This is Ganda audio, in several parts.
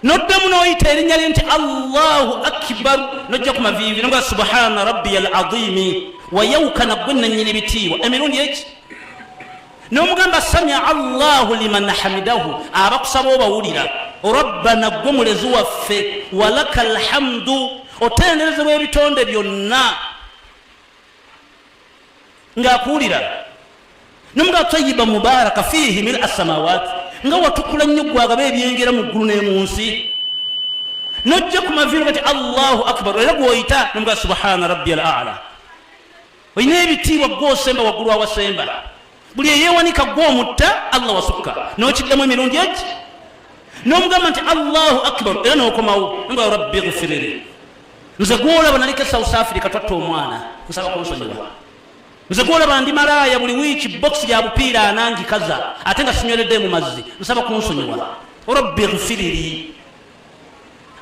noddamu noyita erinnya lye nti allahu akibar nojja ku maviivi noga subhana rabbiya al adimi wayawukana gwe nanyini ebitiibwa emirundi eki nomugamba samia allahu liman hamidahu abakusaba obawulira rabbana gwe mulezi waffe walaka alhamdu otenderezebwa ebitonde byonna ng'akuwulira namuga tayiba mubaraka fiihi mil assamawati nga watukula nnyo gwagaba ebyengera mu ggulu ne mu nsi nojja ku maviiro gati allahu akbar era gwoyita namuga subhana rabbi al ala olina ebitiibwa gwosemba waggulu awasemba buli eyewanika gwe omutta allah wasukka nokiddamu emirundi egi nomugamba nti allahu akbar era nokomawo nga rabbi gufiriri nze gwolaba naliko south africa twatta omwana nsaba kunsonyiwa nze gwolaba ndi malaaya buli wiiki bokisi ya bupiira anangikaza ate nga sinyoledde mu mazzi nsaba kunsonyiwa rabbi gufiriri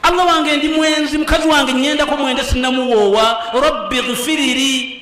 allah wange ndi mwenzi mukazi wange nyendako mwende sinamuwoowa rabbi gufiriri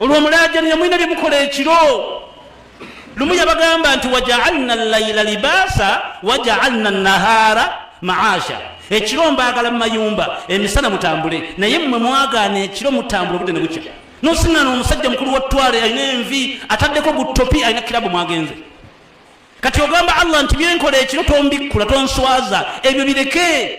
olwo mulaajanira mulina bye mukola ekiro lumu yabagamba nti wajaalna llaila libaasa wajaalna nahaara maasha ekiro mbaagala mu mayumba emisana mutambule naye mmwe mwagaana ekiro mutambule obudde ne bukya nosingana omusajja mukulu wa twale alina envi ataddeko gutopi alina kirabu mwagenze kati ogamba allah nti byenkola ekiro tombikkula tonswaza ebyo bireke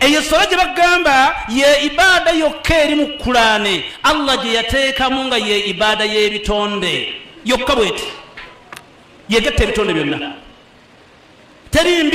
eyo sola gye bagamba ye ibaada yokka eri mu kulaane allah gye yateekamu nga ye ibaada y'ebitonde yokka bweti yegatta ebitonde byonna teri mbizi